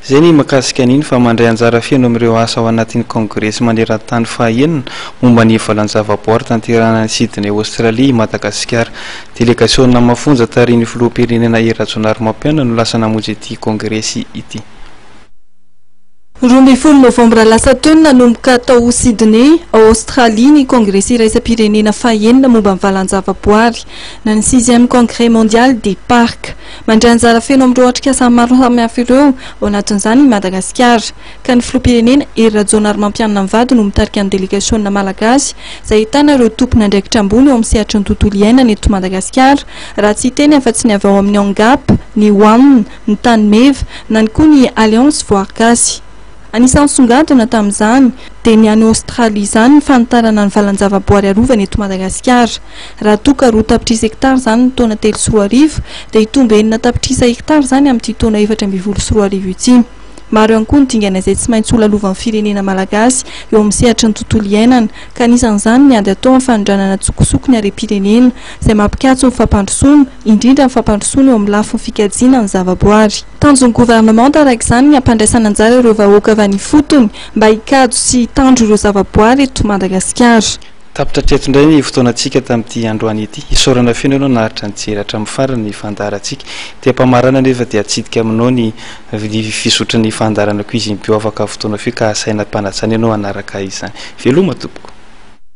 Izay ny mahakasika an'iny fa mandray anjara feno amin'ireo asa ao anatin'ny Kongresy maneran-tany fahaenina momba ny valan-javaboary tanterahana any Sydney, Aostralia, i Madagasikara. Delegasiona mafonja tarihin'ny Filoham-pirenena Hery Rajaonarimampianina no lasa namonjy ity Kongresy ity. Roa ambin'ny folo novambra lasa teo no nanomboka tao Sydney, ao Aostralia, ny Kongresy iraisam-pirenena fahaenina momba ny valan-javaboary, na ny Sixième Congrès Mondial des Parcs. Mandray anjara feno amin'ireo atrikasa maro samihafa ireo, ao anatin'izany i Madagasikara. Ka ny Filoham-pirenena, Hery Rajaonarimampianina ny vadiny ho mitarika ny delegasiona malagasy, izay ahitana ireo tompon'andraikitra ambony eo amin'ny sehatry ny tontolo iainana eto Madagasikara, raha tsy hiteny afa-tsy ny avy ao amin'ny Angap, ny One, ny Tanimeva, na ny koa ny Alliance Voarigasy. Anisan'ny nisongadina tamin'izany dia ny any Aostralia izany ny fanitarana ny valan-javaboary arovana eto Madagasikara. Raha toa ka roa tapitrisa hektara izany ny taona telo sy roa arivo dia hitombo enina tapitrisa hektara izany amin'ity taona efatra ambin'ny folo sy roa arivo ity. Maro ihany koa ny dingana izay tsy maintsy holalovan' ny firenena malagasy eo amin'ny sehatry ny tontolo iainana ka anisan'izany ny ady atao amin'ny fanondranana an-tsokosoko ny harem-pirenena izay mampikatso ny fampandrosoana indrindra ny fampandrosoana eo amin'ny lafiny fikajiana ny zavaboary. Tanjon'ny Gouvernement araka izany ny hampandraisana anjara ireo vahoaka avy any ifotony mba hikajy sy hitandro ireo zavaboary eto Madagasikara. Tapitra hatreto indray ny fotoanantsika tamin'ity androany ity. Isaorana feno ianao naharitra nijery hatramin'ny farany ny fandaharantsika. Ety am-pamarana anefa dia atsidika aminao ny fizotry ny fandaharana Cuisine Bio afaka fotoana fohy ka asaina am-panajanao ianao hanaraka izany. Veloma tompoko.